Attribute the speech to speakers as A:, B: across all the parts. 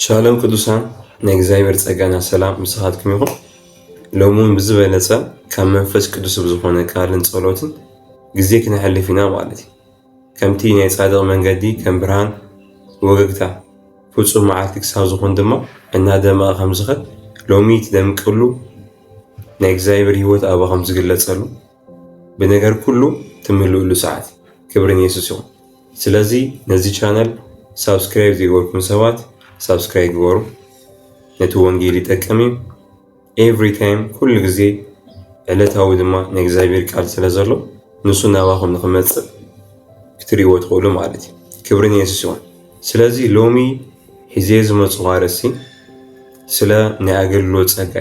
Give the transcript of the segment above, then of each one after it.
A: ሻሎም ቅዱሳን ናይ እግዚኣብሔር ጸጋና ሰላም ምሳኻትኩም ይኹን። ሎሚ እውን ብዝበለጸ ካብ መንፈስ ቅዱስ ብዝኾነ ቃልን ጸሎትን ግዜ ክነሕልፍ ኢና ማለት እዩ። ከምቲ ናይ ጻድቕ መንገዲ ከም ብርሃን ወገግታ ፍጹም መዓልቲ ክሳብ ዝኾን ድማ እናደመቐ ከም ዝኸድ ሎሚ ትደምቅሉ ናይ እግዚኣብሔር ህይወት ኣባኹም ዝግለጸሉ ብነገር ኩሉ ትምልእሉ ሰዓት ክብሪ ንየሱስ ይኹን ስለዚ ነዚ ቻነል ሳብስክራይብ ዘይገበርኩም ሰባት ሳብስክራይብ ግበሩ ነቲ ወንጌል ይጠቅም እዩ ኤቭሪ ታይም ኩሉ ግዜ ዕለታዊ ድማ ናይ እግዚኣብሔር ቃል ስለ ዘሎ ንሱ ናባኹም ንክመፅእ ክትሪእዎ ትኽእሉ ማለት እዩ ክብሪ ንየሱስ ይኹን ስለዚ ሎሚ ሒዜ ዝመፅኹ ኣርእስቲ ስለ ናይ ኣገልግሎት ጸጋ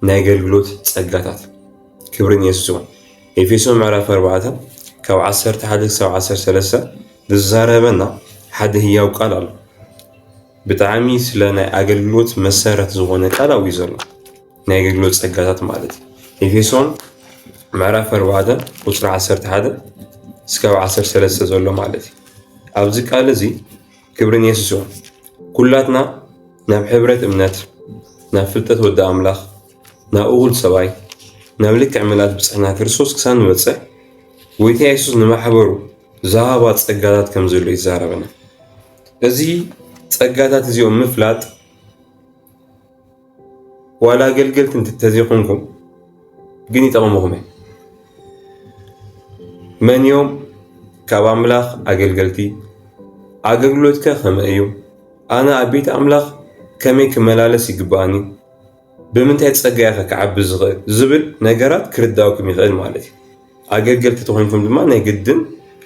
A: ናይ ኣገልግሎት ጸጋታት ክብርን የሱስ ይኹን። ኤፌሶን ምዕራፍ 4 ካብ 11 ክሳብ 13 ዝዛረበና ሓደ ህያው ቃል ኣሎ። ብጣዕሚ ስለ ናይ ኣገልግሎት መሰረት ዝኾነ ቃል ኣብኡ እዩ ዘሎ። ናይ ኣገልግሎት ጸጋታት ማለት እዩ። ኤፌሶን ምዕራፍ 4 ቁጽሪ 11 እስካብ 13 ዘሎ ማለት እዩ። ኣብዚ ቃል እዚ ክብርን የሱስ ይኹን። ኩላትና ናብ ሕብረት እምነት፣ ናብ ፍልጠት ወዲ ኣምላኽ፣ ናብ እኹል ሰብኣይ፣ ናብ ልክዕ ምልኣት ብጽሕና ክርስቶስ ክሳብ ንበጽሕ፣ ጐይታ የሱስ ንማሕበሩ ዝሃባ ጸጋታት ከም ዘሎ ይዛረበና። እዚ ጸጋታት እዚኦም ምፍላጥ ዋላ ኣገልገልቲ እንተዘይኮንኩም ግን ይጠቕምኹም እዩ። መን እዮም ካብ ኣምላኽ ኣገልገልቲ? ኣገልግሎትከ ከመይ እዩ? ኣነ ኣብ ቤት ኣምላኽ ከመይ ክመላለስ ይግባእኒ? ብምንታይ ጸጋያኸ ክዓቢ ዝኽእል ዝብል ነገራት ክርዳእኩም ይኽእል ማለት እዩ። ኣገልገልቲ ተኾይንኩም ድማ ናይ ግድን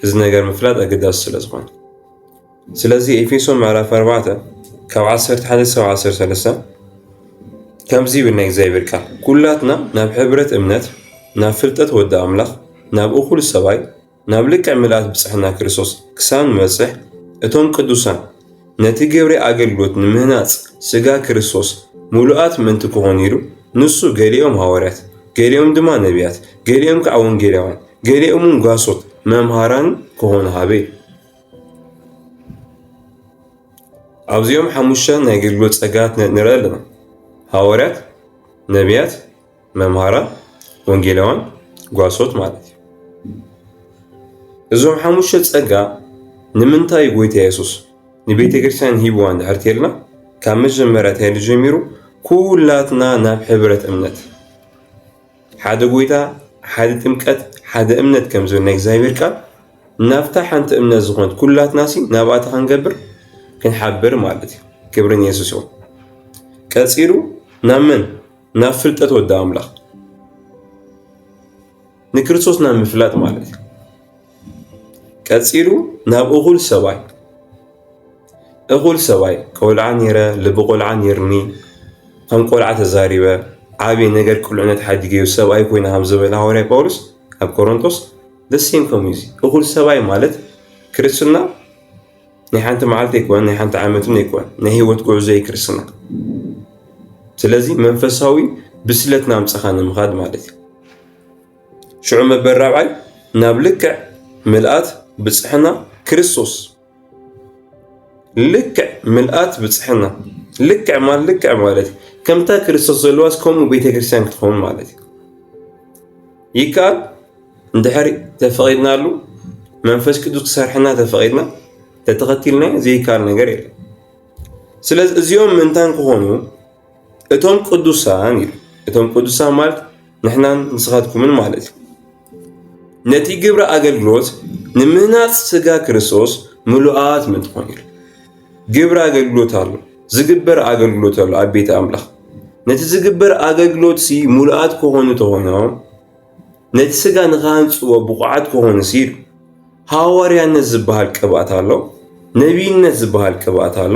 A: እዚ ነገር ምፍላጥ ኣገዳሲ ስለ ዝኾነ ስለዚ ኤፌሶን ምዕራፍ ኣርባዕተ ካብ ዓሰርተ ሓደ ክሳብ ዓሰርተ ሰለስተ ከምዚ ይብል ናይ እግዚኣብሔር ቃል ኩላትና ናብ ሕብረት እምነት ናብ ፍልጠት ወዲ ኣምላኽ ናብ እኹል ሰብኣይ ናብ ልክዕ ምልኣት ብፅሕና ክርስቶስ ክሳብ ንበፅሕ እቶም ቅዱሳን ነቲ ግብሪ ኣገልግሎት ንምህናፅ ስጋ ክርስቶስ ምሉኣት ምእንቲ ክኾኑ ኢሉ ንሱ ገሊኦም ሃዋርያት ገሊኦም ድማ ነቢያት ገሊኦም ከዓ ወንጌላውያን ገሊኦም ጓሶት መምሃራን ክኾኑ ሃበ ኣብዚኦም ሓሙሽተ ናይ ኣገልግሎት ጸጋታት ንርኢ ኣለና። ሃዋርያት፣ ነቢያት፣ መምሃራን፣ ወንጌላውያን፣ ጓሶት ማለት እዩ። እዞም ሓሙሽተ ጸጋ ንምንታይ ጎይታ የሱስ ንቤተ ክርስቲያን ሂብዋ እንድሕር ተልና ካብ መጀመርያ ተይሉ ጀሚሩ ኩላትና ናብ ሕብረት እምነት ሓደ ጎይታ፣ ሓደ ጥምቀት፣ ሓደ እምነት ከም ዝብል ናይ እግዚኣብሔር ቃል ናብታ ሓንቲ እምነት ዝኾነት ኩላትናሲ ናብኣታ ክንገብር ክንሓብር ማለት እዩ። ክብሪ ንየሱስ ይኹን። ቀፂሉ ናብ መን? ናብ ፍልጠት ወዲ ኣምላኽ ንክርስቶስ ናብ ምፍላጥ ማለት እዩ። ቀፂሉ ናብ እኹል ሰብኣይ እኹል ሰብኣይ ቆልዓ ኔረ ልቢ ቆልዓ ኔርኒ ከም ቆልዓ ተዛሪበ ዓብየ ነገር ቁልዕነት ሓዲገዮ ሰብኣይ ኮይነ ከም ዝበለ ሃዋርያ ጳውሎስ ኣብ ቆሮንቶስ ደሴም ከምኡ እዩ እኹል ሰብኣይ ማለት ክርስትና ናይ ሓንቲ መዓልቲ ኣይኮነን ናይ ሓንቲ ዓመትን ኣይኮነን ናይ ህይወት ጉዕዞ እዩ ክርስትና ስለዚ መንፈሳዊ ብስለት ናምፀኻ ንምኻድ ማለት እዩ ሽዑ መበል ራብዓይ ናብ ልክዕ ምልኣት ብፅሕና ክርስቶስ ልክዕ ምልኣት ብፅሕና ልክዕ ማለት ልክዕ ማለት ከምታ ክርስቶስ ዘለዋስ ከምኡ ቤተክርስትያን ክትኸውን ማለት እዩ። ይከኣል እንድሕር ተፈቒድናሉ መንፈስ ቅዱስ ክሰርሐና ተፈቒድና ተተኸቲልና ዘይከኣል ነገር የለን። ስለዚ እዚኦም ምእንታን ክኾኑ እቶም ቅዱሳን እቶም ቅዱሳን ማለት ንሕናን ንስኻትኩምን ማለት እዩ። ነቲ ግብረ ኣገልግሎት ንምህናፅ ስጋ ክርስቶስ ምሉኣት ምትኾን ኢሉ ግብረ ኣገልግሎት ኣሎ፣ ዝግበር ኣገልግሎት ኣሎ ኣብ ቤተ ኣምላኽ። ነቲ ዝግበር ኣገልግሎት ሲ ምሉኣት ክኾኑ ተኾይኖም ነቲ ስጋ ንክሃንፅዎ ብቑዓት ክኾኑ ሲ ኢሉ ሃዋርያነት ዝበሃል ቅብኣት ኣሎ፣ ነቢይነት ዝበሃል ቅብኣት ኣሎ፣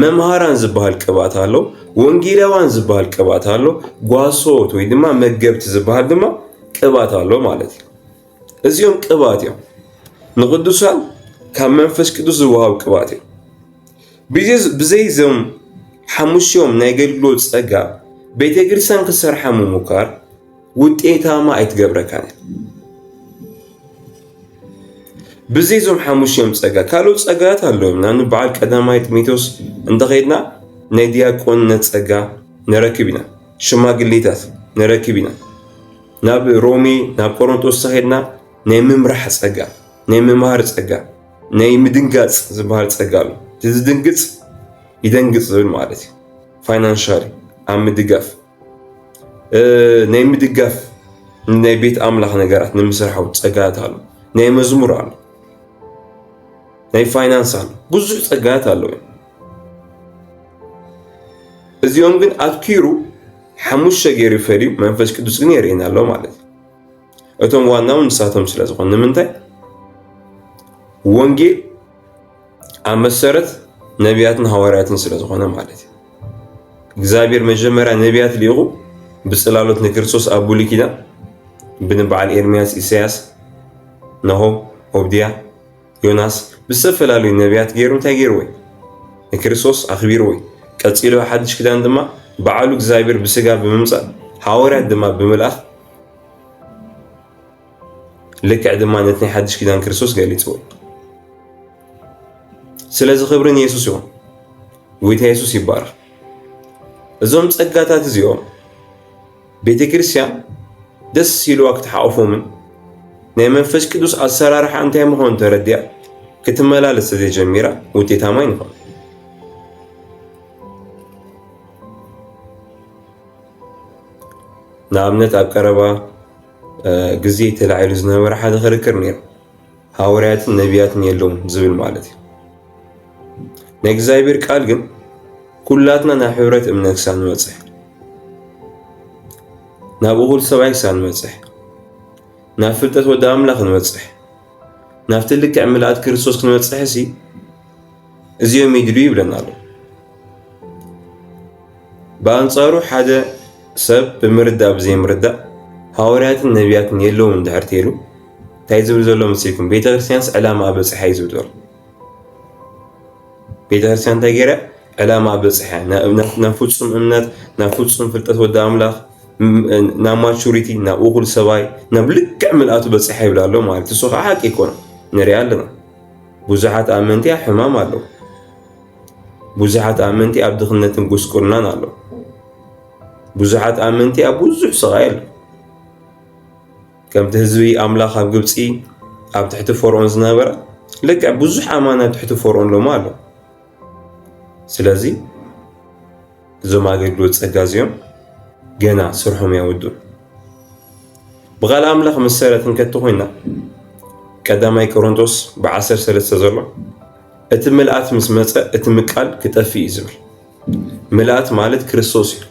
A: መምሃራን ዝበሃል ቅብኣት ኣሎ፣ ወንጌላውያን ዝበሃል ቅብኣት ኣሎ፣ ጓሶት ወይ ድማ መገብቲ ዝበሃል ድማ ቅብኣት ኣሎ ማለት እዩ። እዚኦም ቅብኣት እዮም። ንቅዱሳን ካብ መንፈስ ቅዱስ ዝወሃቡ ቅብኣት እዮም። ብዘይ እዞም ሓሙሽኦም ናይ ኣገልግሎት ጸጋ ቤተ ክርስቲያን ክሰርሓ ምሙካር ውጤታማ ኣይትገብረካን እያ። ብዘይ እዞም ሓሙሽዮም ጸጋ ካልኦት ጸጋታት ኣለዉ ኢና ንበዓል ቀዳማይ ጢሞቴዎስ እንተኸድና ናይ ዲያቆንነት ጸጋ ንረክብ ኢና ሽማግሌታት ንረክብ ኢና ናብ ሮሜ ናብ ቆሮንጦስ ተኸድና ናይ ምምራሕ ጸጋ ናይ ምምሃር ጸጋ ናይ ምድንጋጽ ዝበሃል ጸጋ ኣሎ ዝድንግጽ ይደንግጽ ዝብል ማለት እዩ ፋይናንሻሊ ኣብ ምድጋፍ ናይ ምድጋፍ ናይ ቤት ኣምላኽ ነገራት ንምስርሓው ጸጋታት ኣሎ ናይ መዝሙር ኣሎ ናይ ፋይናንስ ኣሎ ብዙሕ ጸጋታት ኣለዎ እዚኦም ግን ኣትኪሩ ሓሙሽተ ገይሩ ፈልዩ መንፈስ ቅዱስ ግን የርእየና ኣሎ ማለት እዩ እቶም ዋናው ንሳቶም ስለ ዝኾኑ ንምንታይ ወንጌል ኣብ መሰረት ነቢያትን ሃዋርያትን ስለ ዝኾነ ማለት እዩ። እግዚኣብሔር መጀመርያ ነቢያት ሊኢኹ ብጽላሎት ንክርስቶስ ኣብ ብሉይ ኪዳን ብንበዓል ኤርምያስ፣ ኢሳያስ፣ ናሆም፣ ኦብድያ፣ ዮናስ ብዝተፈላለዩ ነቢያት ገይሩ እንታይ ገይርዎ እዩ? ንክርስቶስ ኣኽቢርዎ እዩ። ቀጺሉ ሓድሽ ኪዳን ድማ በዓሉ እግዚኣብሔር ብስጋ ብምምጻእ ሃዋርያት ድማ ብምልኣኽ ልክዕ ድማ ነቲ ናይ ሓድሽ ኪዳን ክርስቶስ ገሊጽዎ ስለዚ ክብሪ ንየሱስ ይኹን ጎይታ የሱስ ይባረኽ እዞም ጸጋታት እዚኦም ቤተ ክርስቲያን ደስ ሲልዋ ክትሓቑፎምን ናይ መንፈስ ቅዱስ ኣሰራርሓ እንታይ ምዃኑ ተረዲያ ክትመላለስ ተዘይጀሚራ ውጤታማ ይንኾን ንኣብነት ኣብ ቀረባ ግዜ ተላዒሉ ዝነበረ ሓደ ክርክር ነይሩ ሃዋርያትን ነቢያትን የለውን ዝብል ማለት እዩ ናይ እግዚኣብሔር ቃል ግን ኩላትና ናብ ሕብረት እምነት ክሳብ ንበፅሕ ናብ እኹል ሰብኣይ ክሳብ ንበፅሕ ናብ ፍልጠት ወዲ ኣምላኽ ንበፅሕ ናብቲ ልክዕ ምልኣት ክርስቶስ ክንበፅሕ ሲ እዚኦም ይድሉ ይብለና ኣሎ። ብኣንጻሩ ሓደ ሰብ ብምርዳእ ብዘይምርዳእ ሃዋርያትን ነቢያትን የለውን እንድሕር ተይሉ እንታይ ዝብል ዘሎ መሲልኩም ቤተ ክርስቲያንስ ዕላማ በፅሓ እዩ ዝብል ዘሎ ቤተ ክርስቲያን እንታይ ገይረ ዕላማ በፅሐ ናብ ፍፁም እምነት ናብ ፍፁም ፍልጠት ወዲ ኣምላኽ ናብ ማቹሪቲ ናብ እኹል ሰብኣይ ናብ ልክዕ ምልኣቱ በፅሐ ይብላ ኣሎ ማለት እሱ ከዓ ሓቂ ይኮነ ንሪኣ ኣለና ብዙሓት ኣመንቲ ኣብ ሕማም ኣለዉ። ብዙሓት ኣመንቲ ኣብ ድኽነትን ጉስቁልናን ኣለዉ። ብዙሓት ኣመንቲ ኣብ ብዙሕ ስቓይ ኣለዉ። ከምቲ ህዝቢ ኣምላኽ ኣብ ግብፂ ኣብ ትሕቲ ፈርዖን ዝነበረ ልክዕ ብዙሕ ኣማን ኣብ ትሕቲ ፈርዖን ሎሚ ኣሎ። ስለዚ እዞም ኣገልግሎት ጸጋ እዚኦም ገና ስርሖም ያወዱን ብቓል ኣምላኽ መሰረት እንከቲ ኮይና ቀዳማይ ቆሮንቶስ ብዓሰር ሰለስተ ዘሎ እቲ ምልኣት ምስ መፀ እቲ ምቃል ክጠፍእ እዩ ዝብል ምልኣት ማለት ክርስቶስ እዩ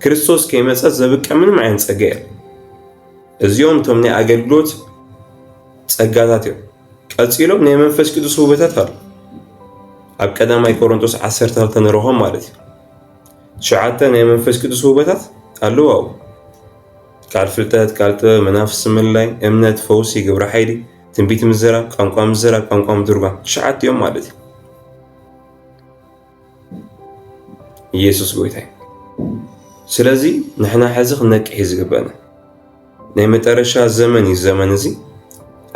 A: ክርስቶስ ከይመፀ ዘብቀ ምንም ዓይነት ጸጋ እየ እዚኦም እቶም ናይ ኣገልግሎት ጸጋታት እዮም ቀጺሎም ናይ መንፈስ ቅዱስ ውበታት ኣሉ ኣብ ቀዳማይ ቆሮንቶስ ዓሰርተ ክልተ ንረኾም ማለት እዩ ትሽዓተ ናይ መንፈስ ቅዱስ ውበታት ኣለዋ ቃል ፍልጠት ቃል ጥበብ መናፍስ ምልላይ እምነት ፈውሲ ግብረ ሓይሊ ትንቢት ምዘራብ ቋንቋ ምዘራብ ቋንቋ ምትርጓም ትሽዓተ እዮም ማለት እዩ ኢየሱስ ጎይታይ ስለዚ ንሕና ሕዚ ክንነቅሕ እዩ ዝግበና ናይ መጠረሻ ዘመን እዩ ዘመን እዚ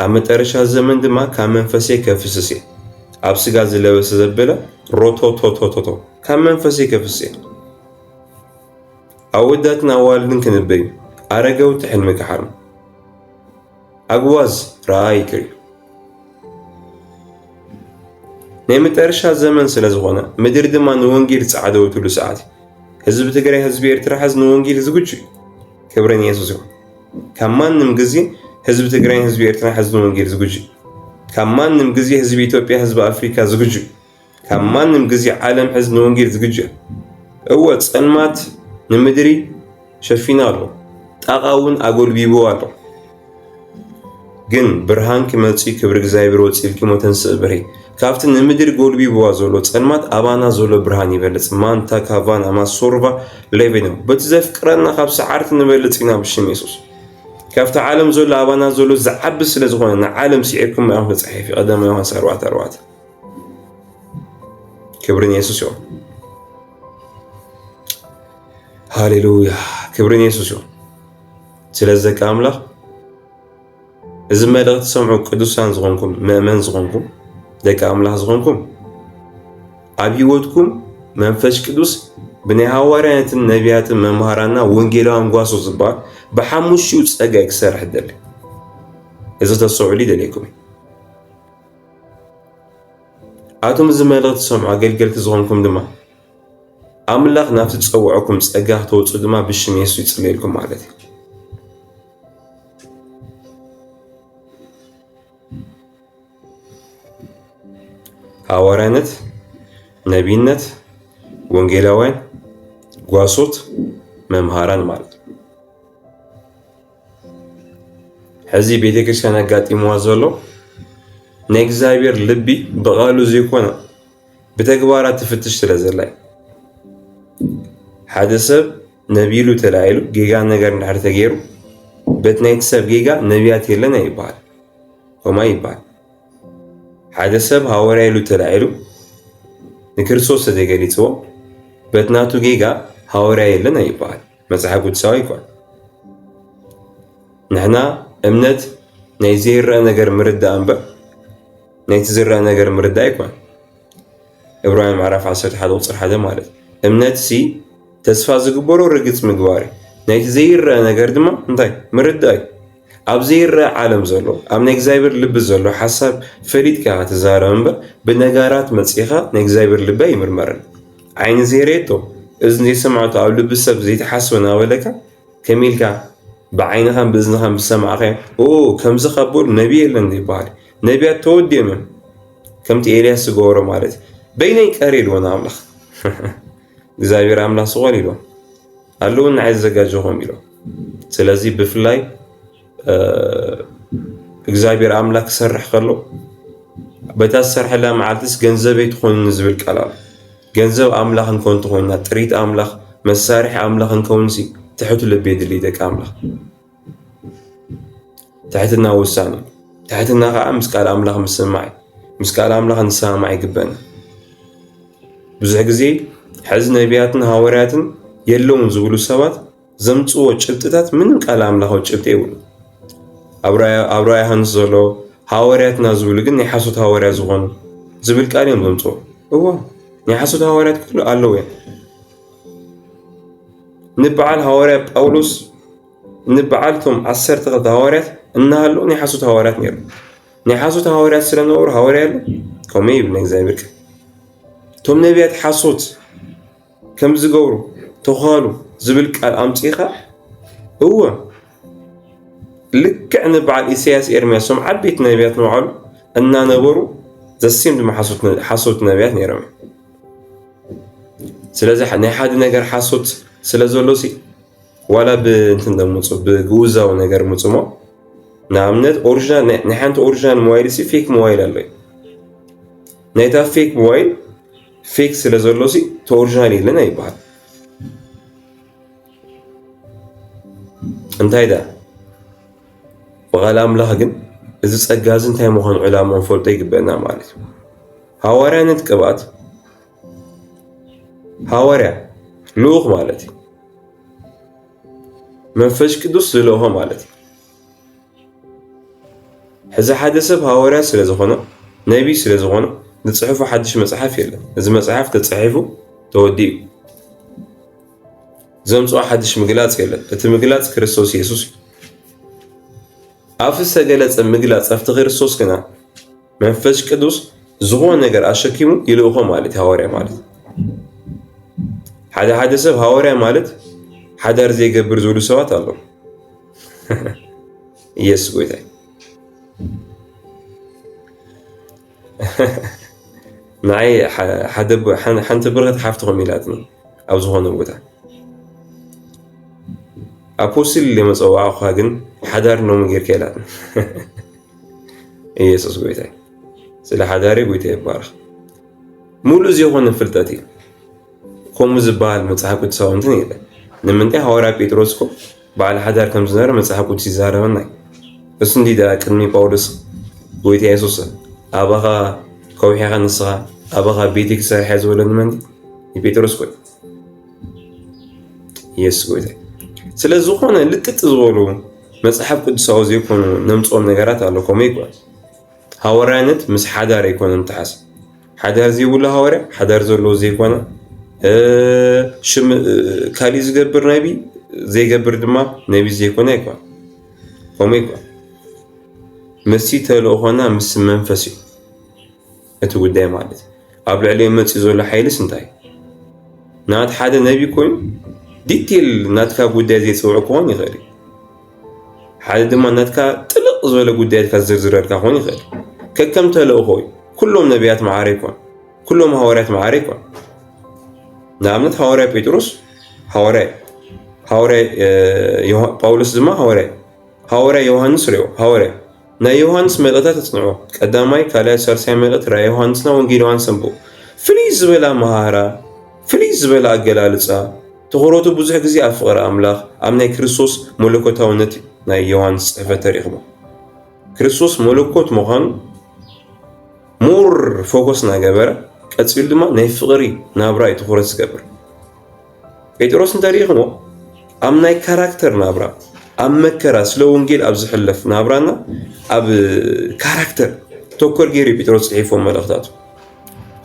A: ኣብ መጠረሻ ዘመን ድማ ካብ መንፈሰይ ከፍስስ እየ ኣብ ስጋ ዝለበሰ ዘበለ ሮቶቶቶቶቶ ካብ መንፈሰይ ከፍስ እየ ኣወዳትን ኣዋልድን ክንበዩ ኣረገውቲ ሕልሚ ክሓልሙ ኣግዋዝ ረኣ ይቅር እዩ ናይ መጠረሻ ዘመን ስለ ዝኾነ ምድሪ ድማ ንወንጌል ጻዕደወትሉ ሰዓት ህዝቢ ትግራይ ህዝቢ ኤርትራ ሕዝ ንወንጌል ዝግጁ እዩ ክብረን የሱስ ይኹን ካብ ማንም ግዜ ህዝቢ ትግራይን ህዝቢ ኤርትራ ሕዝ ንወንጌል ዝግጁ ካብ ማንም ግዜ ህዝቢ ኢትዮጵያ ህዝቢ ኣፍሪካ ዝግጁ ካብ ማንም ግዜ ዓለም ሕዚ ንወንጌል ዝግጁ እያ። እወ ጸልማት ንምድሪ ሸፊኑ ኣሎ፣ ጣቓ እውን ኣጎልቢቡ ኣሎ። ግን ብርሃንኪ መጺኡ ክብሪ እግዚኣብሔር ወጺእልኪ እሞ ተንስእ ብርሂ። ካብቲ ንምድሪ ጎልቢብዋ ዘሎ ጸልማት ኣባና ዘሎ ብርሃን ይበልጽ። ማንታ ካቫና ማሶርቫ ሌቬኖ በቲ ዘፍቅረና ካብ ሰዓርቲ ንበልጽ ኢና ብሽም የሱስ። ካብቲ ዓለም ዘሎ ኣባና ዘሎ ዝዓቢ ስለ ዝኾነ ንዓለም ስዒርኩም ኢኹም ተጻሒፊ ቀዳማ ዮሃንስ ኣርባዕተ ኣርባዕተ ክብሪ ንየሱስ ይኹን። ሃሌሉያ ክብሪ ንየሱስ ይኹን። ስለዚ ደቂ ኣምላኽ እዚ መልእኽቲ ሰምዑ ቅዱሳን ዝኾንኩም መእመን ዝኾንኩም ደቂ ኣምላኽ ዝኾንኩም ኣብ ህይወትኩም መንፈስ ቅዱስ ብናይ ሃዋርያትን ነቢያትን መምሃራና ወንጌላውያን ጓሶ ዝበሃል ብሓሙሽኡ ፀጋ ክሰርሕ ደሊ እዚ ተሰዑሉ ይደልየኩም እዩ ኣቱም እዚ መልእኽቲ ትሰምዑ ኣገልገልቲ ዝኾንኩም ድማ ኣምላኽ ናብቲ ዝጸውዐኩም ጸጋ ክትወጹ ድማ ብሽም የሱስ ይጽልየልኩም ማለት እዩ ሃዋርያነት ነቢይነት ወንጌላውያን ጓሶት መምሃራን ማለት ሕዚ ቤተ ክርስቲያን ኣጋጢምዋ ዘሎ ናይ እግዚኣብሔር ልቢ ብቃሉ ዘይኮነ ብተግባራ ትፍትሽ ስለ ዘላ ሓደ ሰብ ነቢሉ ተላዒሉ ጌጋ ነገር እንድሕር ተገይሩ በቲ ናይቲ ሰብ ጌጋ ነቢያት የለን ይበሃል ሆማ ይበሃል። ሓደ ሰብ ሃወርያ ኢሉ ተላዒሉ ንክርስቶስ ተዘይገሊፅዎ በቲ ናቱ ጌጋ ሃወርያ የለን ይበሃል። መጽሓፍ ቅዱሳዊ ኣይኮን። ንሕና እምነት ናይ ዘይረአ ነገር ምርዳእ እምበር ናይቲ ዝረአ ነገር ምርዳእ ኣይኮን። ዕብራውያን ምዕራፍ 11 ቁፅሪ ሓደ ማለት እምነት ሲ ተስፋ ዝግበሮ ርግፅ ምግባር እዩ። ናይቲ ዘይረአ ነገር ድማ እንታይ ምርዳእ እዩ። ኣብ ዘይረአ ዓለም ዘሎ ኣብ ናይ እግዚኣብሔር ልቢ ዘሎ ሓሳብ ፈሊጥካ ትዛረብ እምበር ብነጋራት መፂኻ ናይ እግዚኣብሔር ልቢ ኣይምርመርን። ዓይኒ ዘይረኤቶ እዝኒ ዘይሰምዐቶ ኣብ ልቢ ሰብ ዘይተሓስበ እናበለካ ከመይ ኢልካ ብዓይንኻን ብእዝንኻን ብዝሰማዕኻዮ ኦ ከምዚ ካብ በሉ ነቢ የለን ይበሃል ነቢያት ተወዲኦም እዮም ከምቲ ኤልያስ ዝገበሮ ማለት እዩ በይነይ ቀር ኢልዎ ንኣምላኽ እግዚኣብሔር ኣምላኽ ዝኾን ኢልዎ ኣለዉ ንዓይ ዘዘጋጀኹም ኢሎ ስለዚ ብፍላይ እግዚኣብሔር ኣምላክ ክሰርሕ ከሎ በታ ዝሰርሐላ መዓልትስ ገንዘበይ ትኾንኒ ዝብል ቃል ኣሎ። ገንዘብ ኣምላኽ እንኮን ትኾንና ጥሪት ኣምላኽ መሳርሒ ኣምላኽ እንከውንሲ ትሕቱ ልቢ የድሊ ደቂ ኣምላኽ ትሕትና ውሳኔ ትሕትና ከዓ ምስ ቃል ኣምላኽ ምስማዕ ምስ ቃል ኣምላኽ ንሰማማዕ ይግበና። ብዙሕ ግዜ ሕዚ ነቢያትን ሃዋርያትን የለውን ዝብሉ ሰባት ዘምጽዎ ጭብጥታት ምንም ቃል ኣምላኻዊ ጭብጢ የብሉ ኣብ ራያ ዮሃንስ ዘሎ ሃዋርያትና ዝብሉ ግን ናይ ሓሶት ሃዋርያ ዝኾኑ ዝብል ቃል እዮም ዘምጽዎ እዎ ናይ ሓሶት ሃዋርያት ክፍሉ ኣለዉ እዮም ንበዓል ሃዋርያ ጳውሎስ ንበዓል እቶም ዓሰርተ ክልተ ሃዋርያት እናሃሉ ናይ ሓሶት ሃዋርያት ነይሩ ናይ ሓሶት ሃዋርያት ስለነበሩ ሃዋርያ ኣሎ ከምኡ ይብል ናይ እግዚኣብሔር እቶም ነቢያት ሓሶት ከምዚ ገብሩ ተዃሉ ዝብል ቃል ኣምጺእኻ እወ ልክዕ ንበዓል ኢሳያስ ኤርምያስ ሶም ዓበይቲ ነቢያት ንባዕሉ እናነበሩ ዘሴም ድማ ሓሶት ነቢያት ነይሮም ስለዚ ናይ ሓደ ነገር ሓሶት ስለ ዘሎ ሲ ዋላ ብእንትን ደምፁ ብግውዛዊ ነገር ምፅሞ ንኣብነት ኦሪጂናል ናይ ሓንቲ ኦሪጂናል ሞባይል ሲ ፌክ ሞባይል ኣሎ ናይታ ፌክ ሞባይል ፌክ ስለ ዘሎ ሲ ተኦሪጂናል የለን ኣይበሃል እንታይ ዳ ብቓል ኣምላኽ ግን እዚ ጸጋ እዚ እንታይ ምዃኑ ዕላማ ንፈልጦ ይግበአና ማለት እዩ ሃዋርያነት ቅብኣት ሃዋርያ ልኡኽ ማለት እዩ መንፈስ ቅዱስ ዝልእኾ ማለት እዩ ሕዚ ሓደ ሰብ ሃዋርያ ስለ ዝኾነ፣ ነቢይ ስለ ዝኾነ ዝጽሕፎ ሓድሽ መጽሓፍ የለን። እዚ መጽሓፍ ተጻሒፉ ተወዲኡ ዘምጽኦ ሓድሽ ምግላጽ የለን። እቲ ምግላጽ ክርስቶስ የሱስ እዩ። ኣብቲ ዝተገለጸ ምግላጽ ኣብቲ ክርስቶስ ግና መንፈስ ቅዱስ ዝኾነ ነገር ኣሸኪሙ ይልእኾ ማለት ሃዋርያ ማለት ሓደ ሓደ ሰብ ሃዋርያ ማለት ሓዳር ዘይገብር ዝብሉ ሰባት ኣለዉ። ኢየሱስ ጎይታ ንዓይ ሓደ ሓንቲ ብርክት ሓፍትኹም ኢላትኒ ኣብ ዝኾነ ቦታ ኣፖስትል ኢለ መፀዋዕኹኻ ግን ሓዳር ኖሚ ጌርካ ኢላትኒ ኢየሱስ ጎይታ ስለ ሓዳሪ ጎይታ ይባረኽ ሙሉእ ዘይኮነ ፍልጠት እዩ ከምኡ ዝበሃል መፅሓፍ ቅዱሳዊ እንትን የለን ንምንታይ ሃዋርያ ጴጥሮስ እኮ በዓል ሓዳር ከም ዝነበረ መጽሓፍ ቅዱስ ይዛረበና እዩ። እሱ እንዲ ደኣ ቅድሚ ጳውሎስ ጎይታ የሱስ ኣባኻ ከውሒኻ ንስኻ ኣባኻ ቤቴ ክሰርሐ ዝበለኒ መን ንጴጥሮስ ኮይ የሱስ ጎይታ ስለ ዝኾነ ልጥጥ ዝበሉ መጽሓፍ ቅዱሳዊ ዘይኮኑ ነምጽኦም ነገራት ኣሎ ከምኡ ይግባል ሃዋርያነት ምስ ሓዳር ኣይኮነን ተሓስ ሓዳር ዘይብሉ ሃዋርያ ሓዳር ዘለዎ ዘይኮነ ሽም ካሊእ ዝገብር ነቢ ዘይገብር ድማ ነቢ ዘይኮነ ኣይኮነ ከምኡ ይኮነ ምስቲ ተልእኾና ምስ መንፈስ እዩ እቲ ጉዳይ ማለት ኣብ ልዕሊ መፅኡ ዘሎ ሓይልስ እንታይ ናት ሓደ ነቢ ኮይኑ ዲቴል ናትካ ጉዳይ ዘይፅውዑ ክኾን ይኽእል እዩ ሓደ ድማ ናትካ ጥልቕ ዝበለ ጉዳያትካ ዝዝርዝረልካ ክኾን ይኽእል ከከም ተልእኾ እዩ ኩሎም ነቢያት መዓረ ይኮን ኩሎም ሃዋርያት መዓረ ይኮን ንኣብነት ሃዋርያ ጴጥሮስ ሃዋርያ ሃዋርያ ጳውሎስ ድማ ሃዋርያ ሃዋርያ ዮሃንስ ሪኦ ሃዋርያ ናይ ዮሃንስ መልእኽታት ኣጽንዑ፣ ቀዳማይ፣ ካልኣይ፣ ሳልሳይ መልእኽቲ ራእይ ዮሃንስና ወንጌል ዮሃንስ ኣንብቡ። ፍልይ ዝበለ ኣመሃህራ፣ ፍልይ ዝበለ ኣገላልጻ፣ ትኹረቱ ብዙሕ ግዜ ኣብ ፍቕሪ ኣምላኽ፣ ኣብ ናይ ክርስቶስ መለኮታውነት ናይ ዮሃንስ ጽሕፈት ተሪኽቦ። ክርስቶስ መለኮት ምዃኑ ሞር ፎከስ ናገበረ ቀጺሉ ድማ ናይ ፍቕሪ ናብራ እዩ ትኹረት ዝገብር። ጴጥሮስ እንተ ርኢኽሞ ኣብ ናይ ካራክተር ናብራ ኣብ መከራ ስለ ወንጌል ኣብ ዝሕለፍ ናብራና ኣብ ካራክተር ተኮር ገይሩ እዩ ጴጥሮስ ጽሒፎም መልእኽታቱ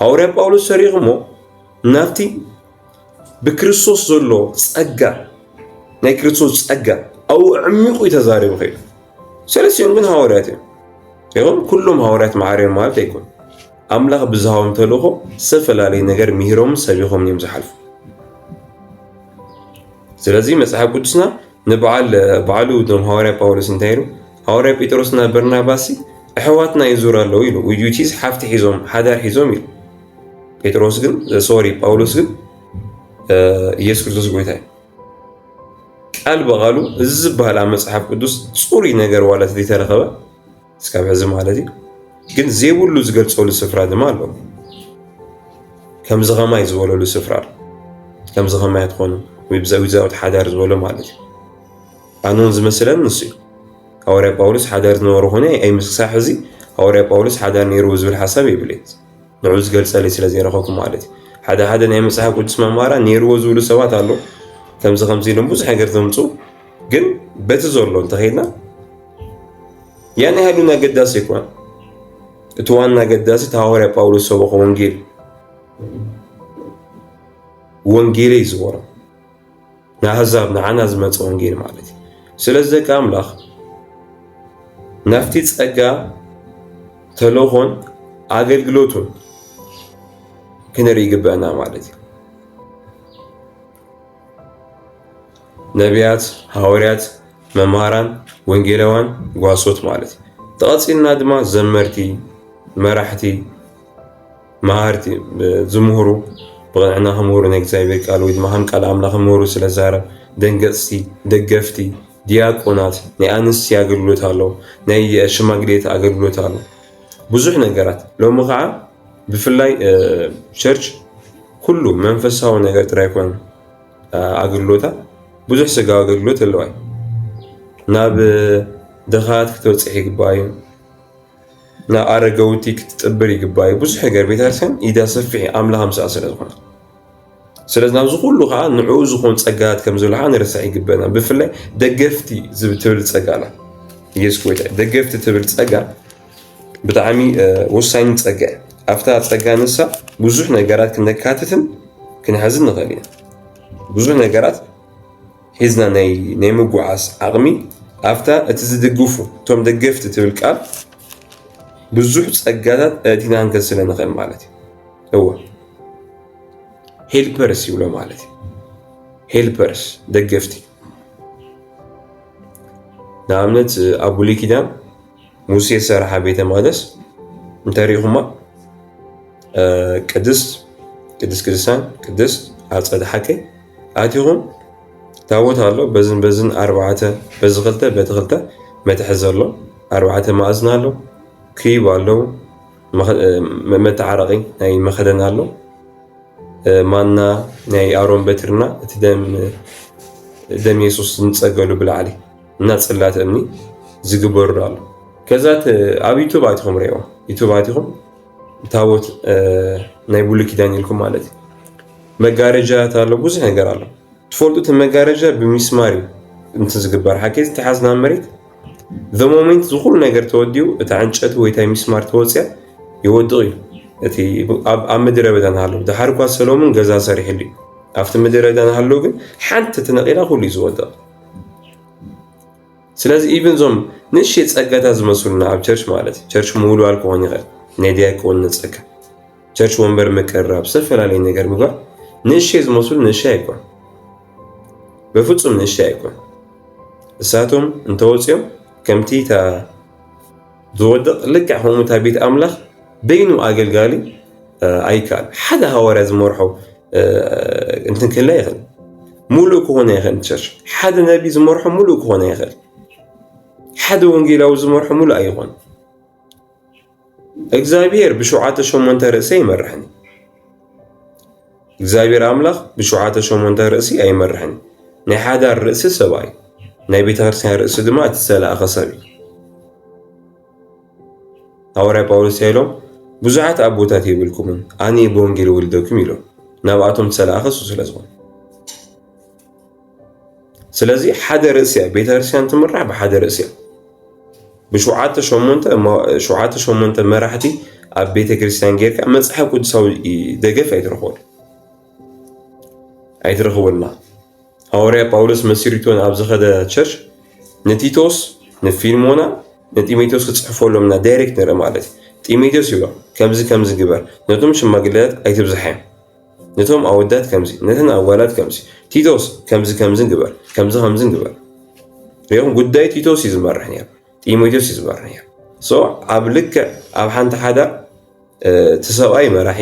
A: ሃዋርያ ጳውሎስ ሰሪኽሞ ናብቲ ብክርስቶስ ዘሎ ጸጋ ናይ ክርስቶስ ጸጋ ኣብኡ ዕሚቑ እዩ ተዛሪቡ ከይዱ ሰለስቲኦም ግን ሃዋርያት እዮም ይኹን ኩሎም ሃዋርያት መዓርዮም ማለት ኣይኮኑ ኣምላኽ ብዝሃቦም ተልእኾ ዝተፈላለየ ነገር ምሂሮምን ሰቢኾምን እዮም ዝሓልፉ። ስለዚ መጽሓፍ ቅዱስና ንበዓል ባዕሉ እቶም ሃዋርያ ጳውሎስ እንታይ ኢሉ ሃዋርያ ጴጥሮስና በርናባሲ ኣሕዋትና ይዙር ኣለዉ ኢሉ ውዩቲዝ ሓፍቲ ሒዞም ሓዳር ሒዞም ኢሉ ጴጥሮስ ግን ሶሪ ጳውሎስ ግን ኢየሱስ ክርስቶስ ጎይታ እዩ ቃል በቃሉ እዚ ዝበሃል ኣብ መጽሓፍ ቅዱስ ጽሩይ ነገር ዋላ ተረኸበ እስካብ ሕዚ ማለት እዩ ግን ዘይብሉ ዝገልፀሉ ስፍራ ድማ ኣሎ ከምዚ ከማይ ዝበለሉ ስፍራ ከምዚ ከማይ ትኾኑ ወይ ብዘዊዛዊት ሓዳር ዝበሎ ማለት እዩ ኣነውን ዝመስለን ንሱ እዩ ሃዋርያ ጳውሎስ ሓዳር ዝነበሩ ኮነ ኣይምስክሳ ሕዚ ሃዋርያ ጳውሎስ ሓዳር ነይርዎ ዝብል ሓሳብ የብለይ ንዑ ዝገልፀለይ ስለ ዘይረኸብኩ ማለት እዩ ሓደ ሓደ ናይ መፅሓፍ ቅዱስ መማራ ነይርዎ ዝብሉ ሰባት ኣሎ ከምዚ ከምዚ ኢሎም ብዙሕ ነገር ዘምፁ ግን በቲ ዘሎ እንተኸይድና ያን ያህል ውን ኣገዳሲ ኣይኮነ። እቲ ዋና ኣገዳሲ እቲ ሃዋርያ ጳውሎስ ሰበኾ ወንጌል ወንጌለይ ዝበሮ ንኣህዛብ ንዓና ዝመፀ ወንጌል ማለት እዩ። ስለዚ ደቂ ኣምላኽ ናብቲ ጸጋ ተልእኾን ኣገልግሎቱን ክንርኢ ይግበአና ማለት እዩ። ነቢያት ሃወርያት መምሃራን ወንጌላውያን ጓሶት ማለት ተቐፂልና ድማ ዘመርቲ መራሕቲ መሃርቲ ዝምህሩ ብቕንዕና ክምህሩ ናይ እግዚኣብሔር ቃል ወይ ድማ ከም ቃል ኣምላኽ ክምህሩ ስለ ዛረብ ደንገፅቲ ደገፍቲ ዲያቆናት ናይ ኣንስቲ ኣገልግሎት ኣሎ ናይ ሽማግሌት ኣገልግሎት ኣሎ ብዙሕ ነገራት ሎሚ ከዓ ብፍላይ ቸርች ኩሉ መንፈሳዊ ነገር ጥራይ ኮነ ኣገልግሎታ ብዙሕ ስጋዊ ኣገልግሎት ኣለዋ ናብ ድኻት ክትበፅሕ ይግባእ እዩ ናብ ኣረገውቲ ክትጥብር ይግባእ እዩ ብዙሕ ነገር ቤተክርስትያን ኢዳ ሰፊሕ ኣምላኽ ምስኣ ስለ ዝኾነ ስለዚ ናብዚ ኩሉ ከዓ ንዕኡ ዝኾን ጸጋታት ከም ዘሎ ከዓ ንርሳዕ ይግበና ብፍላይ ደገፍቲ ትብል ጸጋ ኣላ ኢየሱስ ጎይታ ደገፍቲ ትብል ጸጋ ብጣዕሚ ወሳኝ ጸጋ እዩ ኣብታ ጸጋ ንሳ ብዙሕ ነገራት ክነካትትን ክንሕዝን ንኽእል ኢና ብዙሕ ነገራት ሒዝና ናይ ምጉዓዝ ዓቕሚ ኣብታ እቲ ዝድግፉ እቶም ደገፍቲ ትብል ቃል ብዙሕ ጸጋታት እቲና ክንከስለ ንኽእል ማለት እዩ እወ ሄልፐርስ ይብሎ ማለት እዩ ሄልፐርስ ደገፍቲ ንኣብነት ኣብ ብሉይ ኪዳን ሙሴ ዝሰርሓ ቤተ መቅደስ እንተሪኢኹማ ቅድስት ቅድስት ቅዱሳን ቅድስት ኣፀደ ሓቀይ ኣቲኹም ታቦት ኣሎ በዝን በዝን ኣርባዕተ በዚ ክልተ በቲ ክልተ መትሐዚ ኣሎ ኣርባዕተ ማእዝን ኣሎ ክብ ኣለዉ መተዓረቒ ናይ መኸደን ኣሎ ማና ናይ ኣሮን በትርና እቲ ደም የሱስ ዝንፀገሉ ብላዕሊ እና ፅላት እምኒ ዝግበሩ ኣሎ ከዛት ኣብ ዩቱብ ኣቲኹም ሪኦ ዩቱብ ኣቲኹም ታቦት ናይ ብሉ ኪዳን ኢልኩም ማለት እዩ መጋረጃት ኣሎ ብዙሕ ነገር ኣሎ ትፈልጡቲ መጋረጃ ብሚስማር እዩ እንትን ዝግበር ሓኬዚ ተሓዝና መሬት the moment ዝኩሉ ነገር ተወዲኡ እታ ዕንጨቲ ወይ ታይ ሚስማር ተወፅያ ይወድቕ እዩ እቲ ኣብ ምድረ በዳ ንሃለዉ ድሓር እኳ ሰሎሙን ገዛ ሰሪሕሉ እዩ ኣብቲ ምድረ በዳ ንሃለዉ ግን ሓንቲ ትነቂላ ኩሉ እዩ ዝወድቕ ስለዚ ኢብን እዞም ንእሽተይ ጸጋታ ዝመስሉና ኣብ ቸርች ማለት እዩ ቸርች ምውልዋል ክኾን ይኽእል ናይ ዲያቆን ንጸጋ ቸርች ወንበር ምቅርራብ ዝተፈላለየ ነገር ምግባር ንእሽተይ ዝመስሉ ንእሽተይ ኣይኮን በፍጹም ንእሽተይ ኣይኮን እሳቶም እንተወፅኦም ከምቲ እታ ዝወድቕ ልክዕ ከምኡ እታ ቤት ኣምላኽ በይኑ ኣገልጋሊ ኣይከኣል ሓደ ሃዋርያ ዝመርሖ እንትን ክህላ ይኽእል ሙሉእ ክኾነ ይኽእል ቸርች ሓደ ነቢ ዝመርሖ ሙሉእ ክኾነ ይኽእል ሓደ ወንጌላዊ ዝመርሖ ሙሉእ ኣይኾን እግዚኣብሔር ብሸውዓተ ሸሞንተ ርእሰ ይመርሕን እግዚኣብሔር ኣምላኽ ብሸውዓተ ሸሞንተ ርእሲ ኣይመርሕን። ናይ ሓዳር ርእሲ ሰብኣይ፣ ናይ ቤተ ክርስቲያን ርእሲ ድማ እቲ ዝተላእኸ ሰብ እዩ። ሃዋርያ ጳውሎስ ኢሎም ብዙሓት ኣቦታት የብልኩምን ኣነ ብወንጌል ወልደኩም ኢሎም ናብኣቶም ዝተላእኸ እሱ ስለ ዝኾነ ስለዚ ሓደ ርእሲ እያ ቤተክርስትያን ትምራሕ ብሓደ ርእሲ እያ ብሸውዓተ ሸሞንተ ሸውዓተ ሸሞንተ መራሕቲ ኣብ ቤተክርስትያን ጌርካ መፅሓፍ ቅዱሳዊ ደገፍ ኣይትረኽበሉ ኣይትረኽበልና ሃዋርያ ጳውሎስ መሲሪቶን ኣብ ዝኸደ ቸርች ንቲቶስ ንፊልሞና ንጢሞቴዎስ ክፅሕፈሎም እና ዳይሬክት ንርኢ ማለት እዩ ጢሞቴዎስ ይብሎ ከምዚ ከምዚ ግበር ነቶም ሽማግሌታት ኣይትብዝሓዮም ነቶም ኣወዳት ከምዚ ነተን ኣዋላት ከምዚ ቲቶስ ከምዚ ከምዝን ግበር ከምዚ ከምዝን ግበር ሪኦም ጉዳይ ቲቶስ እዩ ዝመርሕ ነይሩ ጢሞቴዎስ እዩ ዝመርሕ ነይሩ ሶ ኣብ ልክዕ ኣብ ሓንቲ ሓዳር እቲ ሰብኣይ መራሒ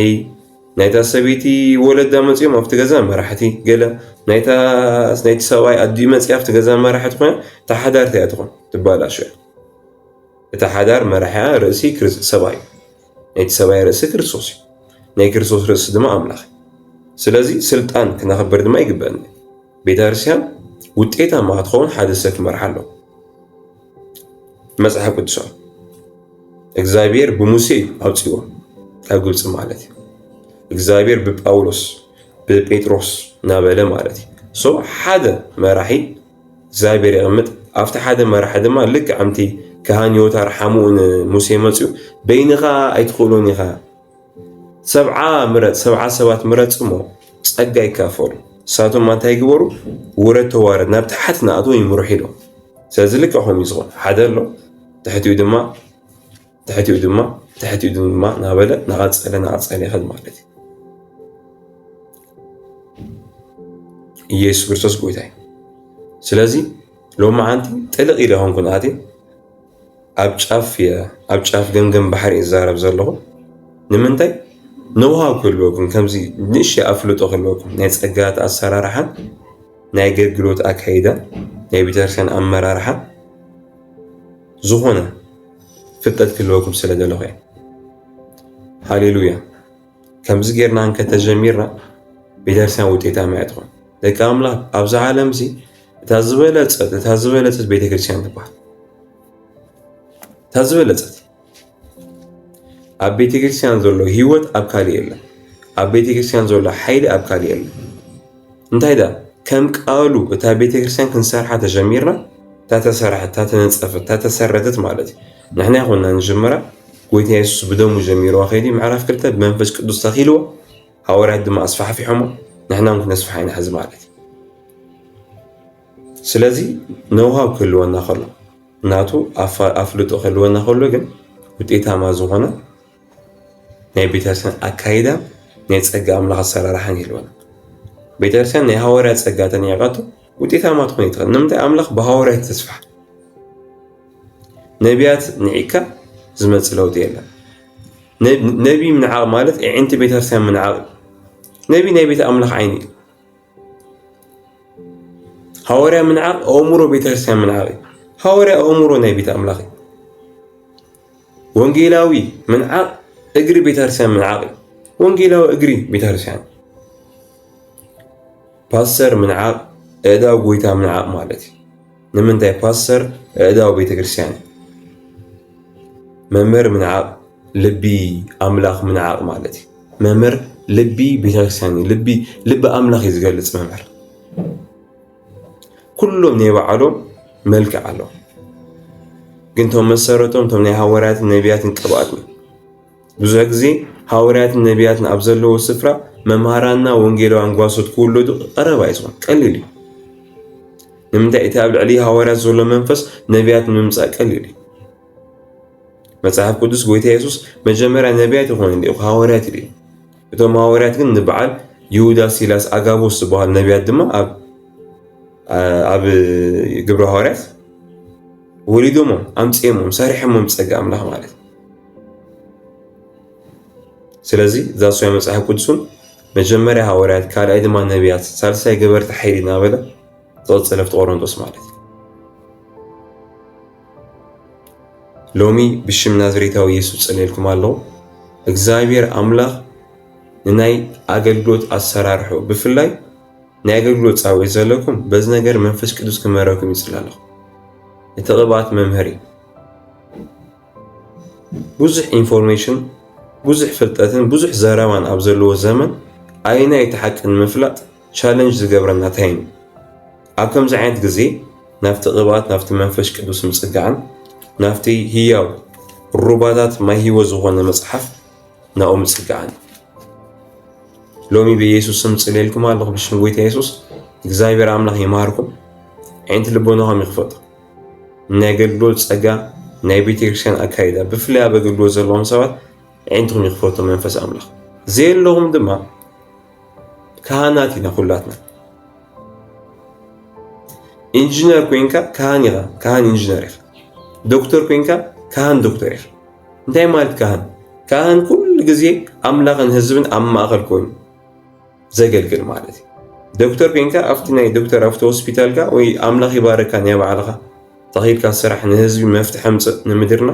A: ናይታ ሰበይቲ ወለዳ መፅኦም ኣብቲ ገዛ መራሕቲ ገለ ናይቲ ሰብኣይ ኣዲኡ መፅያ ኣብቲ ገዛ መራሕቲ ኮይና እታ ሓዳር እቲኣ ትኾን ትባላሾ እታ ሓዳር መራሕያ ርእሲ ሰብኣይ ናይቲ ሰብኣይ ርእሲ ክርስቶስ እዩ፣ ናይ ክርስቶስ ርእሲ ድማ ኣምላኽ እዩ። ስለዚ ስልጣን ክነኽብር ድማ ይግበአና። ቤተ ክርስቲያን ውጤታማ ክትኸውን ሓደ ሰብ ክመርሓ ኣለዎ። መጽሓፍ ቅዱሳዊ እግዚኣብሔር ብሙሴ እዩ ኣውፅዎ ካብ ግብፂ ማለት እዩ። እግዚኣብሔር ብጳውሎስ ብጴጥሮስ እናበለ ማለት እዩ። ሶ ሓደ መራሒ እግዚኣብሔር የቐምጥ ኣብቲ ሓደ መራሒ ድማ ልክዕ ኣምቲ ካህን ዮታር ሓምኡ ንሙሴ መፅኡ በይንኻ ኣይትኽእሎን ኢኻ ሰብዓ ምረፅ ሰብዓ ሰባት ምረፅ እሞ ጸጋ ይካፈሉ ንሳቶም እንታይ ይግበሩ ውረድ ተዋረድ ናብ ትሓት ንኣቶ ይምርሑ ኢሎም ስለዚ ልክዕ ከምኡ ዝኾን ሓደ ኣሎ ትሕቲኡ ድማ ትሕቲኡ ድማ ትሕቲኡ ድማ ናበለ ናቐፀለ ናቐፀለ ይኸል ማለት እዩ ኢየሱስ ክርስቶስ ጎይታ እዩ ስለዚ ሎሚ ሓንቲ ጥልቕ ኢለ ኾንኩን ኣትየ ኣብ ጫፍ እየ ኣብ ጫፍ ገምገም ባሕሪ እየ ዝዛረብ ዘለኹ ንምንታይ ንውሃ ክህልወኩም ከምዚ ንእሸ ኣፍልጦ ክህልወኩም ናይ ፀጋት ኣሰራርሓን ናይ ኣገልግሎት ኣካይዳን ናይ ቤተክርስትያን ኣመራርሓን ዝኾነ ፍልጠት ክህልወኩም ስለ ዘለኹ እየ። ሃሌሉያ ከምዚ ጌርና እንከ ተጀሚርና ቤተክርስትያን ውጤታማ እያ ትኾን። ደቂ ኣምላኽ ኣብዚ ዓለም እዚ እታ ዝበለጸት እታ ዝበለጸት ቤተክርስትያን ትበሃል። እታ ዝበለጸት ኣብ ቤተክርስትያን ዘሎ ህይወት ኣብ ካልእ የለን። ኣብ ቤተክርስትያን ዘሎ ሓይሊ ኣብ ካልእ የለን። እንታይ ደኣ ከም ቃሉ እታ ቤተክርስትያን ክንሰርሓ ተጀሚርና እታ ተሰራሐት እታ ተነጸፈት እታ ተሰረተት ማለት እዩ ንሕና ይኹንና ንጅምራ ጎይታ የሱስ ብደሙ ጀሚርዋ ከይዲ ምዕራፍ ክልተ ብመንፈስ ቅዱስ ተኺልዎ ሃዋርያት ድማ ኣስፋሕፊሖሞ ንሕና እውን ክነስፍሓ ኢና ሕዚ ማለት እዩ ስለዚ ነውሃብ ክህልወና ከሎ ናቱ ኣፍልጦ ክህልወና ከሎ ግን ውጤታማ ዝኾነ ናይ ቤተክርስቲያን ኣካይዳ ናይ ጸጋ ኣምላኽ ኣሰራርሓን ይህልወና ቤተክርስቲያን ናይ ሃዋርያት ጸጋ ተነቂቃቶ ውጤታማ ትኾን ይትኽእል ንምንታይ ኣምላኽ ብሃዋርያት ተስፋሕ ነቢያት ንዒካ ዝመጽእ ለውጢ የለን ነቢ ምንዓቕ ማለት ዕንቲ ቤተክርስቲያን ምንዓቕ ነቢ ናይ ቤት ኣምላኽ ዓይኒ እዩ ሃዋርያ ምንዓቕ ኣእምሮ ቤተክርስቲያን ምንዓቕ እዩ ሃዋርያ ኣእምሮ ናይ ቤት ኣምላኽ እዩ ወንጌላዊ ምንዓቕ እግሪ ቤተክርስቲያን ምንዓቕ እዩ። ወንጌላዊ እግሪ ቤተክርስቲያን፣ ፓስተር ምንዓቕ እእዳው ጎይታ ምንዓቕ ማለት እዩ። ንምንታይ ፓስተር እእዳው ቤተክርስቲያን እዩ። መምህር ምንዓቕ ልቢ ኣምላኽ ምንዓቕ ማለት እዩ። መምህር ልቢ ቤተክርስቲያን እዩ። ልቢ ኣምላኽ እዩ ዝገልፅ መምህር ኩሎም ናይ ባዕሎም መልክዕ ኣለዎም ግን እቶም መሰረቶም እቶም ናይ ሃዋርያትን ነቢያትን ቅብኣት እዩ ብዙሕ ግዜ ሃዋርያትን ነቢያትን ኣብ ዘለዎ ስፍራ መምሃራንና ወንጌላውያን ጓሶት ክውለዱ ቀረባ እዩ ዝኾን ቀሊል እዩ ንምንታይ እቲ ኣብ ልዕሊ ሃዋርያት ዘሎ መንፈስ ነቢያት ንምምፃእ ቀሊል እዩ መጽሓፍ ቅዱስ ጎይታ የሱስ መጀመርያ ነቢያት ይኾኑ እንዲኹ ሃዋርያት ይብል እቶም ሃዋርያት ግን ንበዓል ይሁዳ፣ ሲላስ፣ ኣጋቦስ ዝበሃሉ ነቢያት ድማ ኣብ ኣብ ግብረ ሃዋርያት ወሊዶሞም ኣምፂኦሞም ሰሪሖሞም ፀጋ ኣምላኽ ማለት እዩ። ስለዚ ዛሶያ መፅሓፍ ቅዱሱን መጀመርያ ሃዋርያት ካልኣይ ድማ ነቢያት ሳልሳይ ገበርቲ ሓይሊ እናበለ ዝቐፀለ ኣብቲ ቆሮንቶስ ማለት እዩ። ሎሚ ብሽም ናዝሬታዊ ኢየሱስ ጸልየልኩም ኣለኹ። እግዚኣብሔር ኣምላኽ ንናይ ኣገልግሎት ኣሰራርሑ ብፍላይ ናይ ኣገልግሎት ጻውዒት ዘለኩም በዚ ነገር መንፈስ ቅዱስ ክመረኩም ይጽል ኣለኹ። እቲ ቅብኣት መምህር እዩ። ብዙሕ ኢንፎርሜሽን ብዙሕ ፍልጠትን ብዙሕ ዘረባን ኣብ ዘለዎ ዘመን ኣይናይ እቲ ሓቂ ንምፍላጥ ቻለንጅ ዝገብረና እንታይ እዩ? ኣብ ከምዚ ዓይነት ግዜ ናብቲ ቅብኣት ናብቲ መንፈስ ቅዱስ ምጽጋዕን ናብቲ ህያው ሩባታት ማይ ህይወት ዝኾነ መጽሓፍ ናብኡ ምጽጋዕን ሎሚ ብኢየሱስ ስም ጽልየልኩም ኣለኹ ብሽም ጎይታ ኢየሱስ እግዚኣብሔር ኣምላኽ ይማርኩም ዓይንቲ ልቦናኹም ይኽፈቱ ናይ ኣገልግሎት ጸጋ ናይ ቤተክርስትያን ኣካይዳ ብፍላይ ኣብ ኣገልግሎት ዘለዎም ሰባት ዓይንትኹም ይኽፈቱ መንፈስ ኣምላኽ ዘየለኹም ድማ ካህናት ኢና ኩላትና ኢንጂነር ኮንካ ካህን ኢኻ ካህን ኢንጂነር ኢኻ ዶክተር ኮንካ ካህን ዶክተር ኢኻ እንታይ ማለት ካህን ካህን ኩሉ ግዜ ኣምላኽን ህዝብን ኣብ ማእኸል ኮይኑ ዘገልግል ማለት እዩ ዶክተር ኮንካ ኣብቲ ናይ ዶክተር ኣብቲ ሆስፒታልካ ወይ ኣምላኽ ይባረካ ናይ ባዕልኻ ተኺድካ ስራሕ ንህዝቢ መፍትሒ ኣምፅእ ንምድርና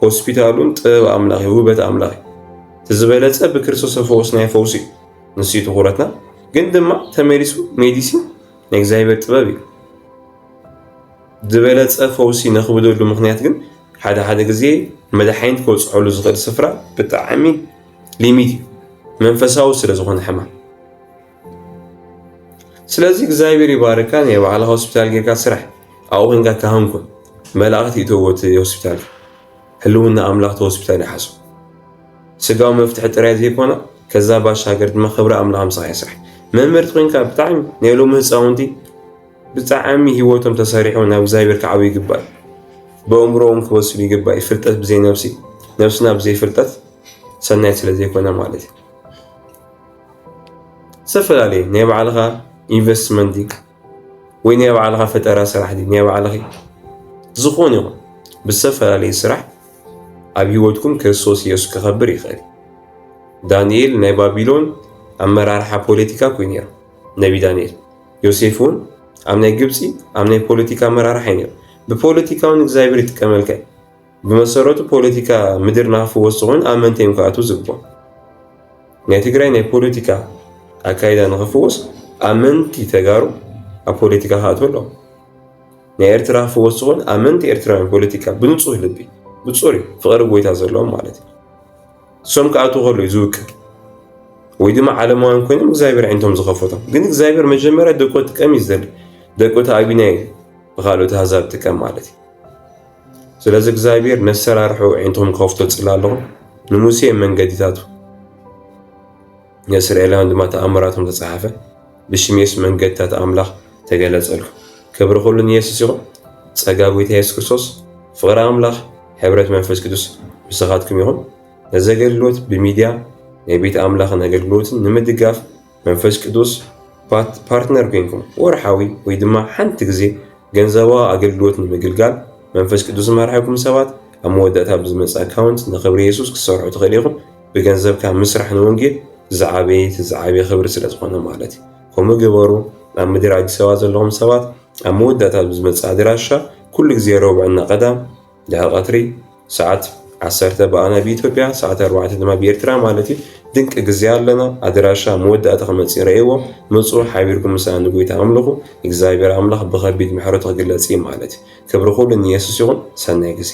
A: ሆስፒታል እውን ጥበብ ኣምላኽ እዩ ውበት ኣምላኽ እዩ እቲ ዝበለፀ ብክርስቶስ ፈውስ ናይ ፈውስ እዩ ንሱ እዩ ትኹረትና ግን ድማ ተመሊሱ ሜዲሲን ናይ እግዚኣብሔር ጥበብ እዩ ዝበለፀ ፈውሲ ነኽብደሉ ምክንያት ግን ሓደ ሓደ ግዜ መድሓኒት ክበፅሐሉ ዝኽእል ስፍራ ብጣዕሚ ሊሚት እዩ መንፈሳዊ ስለ ዝኾነ ሕማም ስለዚ እግዚኣብሔር ይባርካ ናይ ባዕልኻ ሆስፒታል ጌርካ ስራሕ ኣብኡ ኮንካ ካህንኩን መላእኽቲ ይእተዎ እቲ ሆስፒታል ህልውና ኣምላኽ እቲ ሆስፒታል ይሓዞ ስጋዊ መፍትሒ ጥራይ ዘይኮነ ከዛ ባሻገር ድማ ክብሪ ኣምላኽ ምሳኻ ይስራሕ መምህርቲ ኮንካ ብጣዕሚ ናይ ሎሚ ህፃውንቲ ብጣዕሚ ሂወቶም ተሰሪሑ ናብ እግዚኣብሔር ክዓብ ይግባእ ብእምሮኦም ክበስሉ ይግባእ ፍልጠት ብዘይ ነብሲ ነብስና ብዘይ ፍልጠት ሰናይ ስለዘይኮነ ማለት እዩ ዝተፈላለየ ናይ ባዕልኻ ኢንቨስትመንት ወይ ናይ ባዕልኻ ፈጠራ ስራሕ ናይ ባዕልኺ ዝኾነ ይኹን ብዝተፈላለየ ስራሕ ኣብ ህይወትኩም ክርስቶስ ኢየሱስ ክኸብር ይኽእል ዳንኤል ናይ ባቢሎን ኣመራርሓ ፖለቲካ ኮይኑ ነይሩ ነቢ ዳንኤል ዮሴፍ እውን ኣብ ናይ ግብፂ ኣብ ናይ ፖለቲካ ኣመራርሓ እዩ ነይሩ ብፖለቲካውን እግዚኣብሔር ይጥቀመልካ ብመሰረቱ ፖለቲካ ምድር ንክፍወስ ኮይኑ ኣብ መንተ እዮም ክኣትዉ ዝግብኦ ናይ ትግራይ ናይ ፖለቲካ ኣካይዳ ንክፍወስ ኣመንቲ ተጋሩ ኣብ ፖለቲካ ክኣትዉ ኣለዎ ናይ ኤርትራ ክፍወስ ዝኾን ኣመንቲ ኤርትራውያን ፖለቲካ ብንፁህ ልቢ ብፁሪ ፍቕሪ ጎይታ ዘለዎም ማለት እዩ እሶም ክኣትዉ ከሉ እዩ ዝውክል ወይ ድማ ዓለማውያን ኮይኖም እግዚኣብሔር ዓይነቶም ዝኸፈቶም ግን እግዚኣብሔር መጀመርያ ደቆ ጥቀም እዩ ዝደሊ ደቆ ተኣቢና እዩ ብካልኦት ኣህዛብ ጥቀም ማለት እዩ ስለዚ እግዚኣብሔር ነሰራርሑ ኣዒንቶም ከፍቶ ጽላሎም ንሙሴ መንገዲታቱ ንእስራኤላውያን ድማ ተኣምራቶም ተጻሓፈ ብሽም የሱስ መንገድታት ኣምላኽ ተገለጸሉ ክብሪ ኩሉ ንየሱስ ይኹን ጸጋ ጎይታ የሱስ ክርስቶስ ፍቕሪ ኣምላኽ ሕብረት መንፈስ ቅዱስ ምሳኻትኩም ይኹን ነዚ ኣገልግሎት ብሚድያ ናይ ቤት ኣምላኽን ኣገልግሎትን ንምድጋፍ መንፈስ ቅዱስ ፓርትነር ኮይንኩም ወርሓዊ ወይ ድማ ሓንቲ ግዜ ገንዘባዊ ኣገልግሎት ንምግልጋል መንፈስ ቅዱስ ዝመርሐኩም ሰባት ኣብ መወዳእታ ብዝመጽእ ኣካውንት ንኽብሪ የሱስ ክትሰርሑ ትኽእሉ ኢኹም። ብገንዘብካ ምስራሕ ንወንጌል ዝዓበየ እቲ ዝዓበየ ክብሪ ስለ ዝኾነ ማለት እዩ። ከምኡ ግበሩ። ኣብ ምድር ኣዲስ ኣበባ ዘለኹም ሰባት ኣብ መወዳእታ ብዝመጽእ ኣድራሻ ኩሉ ግዜ ረቡዕ እና ቀዳም ድሕሪ ቀትሪ ሰዓት ዓሰርተ ብኣና ብኢትዮጵያ ሰዓት ኣርባዕተ ድማ ብኤርትራ ማለት እዩ ድንቂ ግዜ ኣለና ኣድራሻ መወዳእታ ክመፅእ ረእይዎ መፁ ሓቢርኩም ምሳና ንጎይታ ኣምልኹ እግዚኣብሔር ኣምላኽ ብኸቢድ ምሕረቱ ክግለፅ እዩ ማለት እዩ ክብሪ ኩሉ ንየሱስ ይኹን ሰናይ ግዜ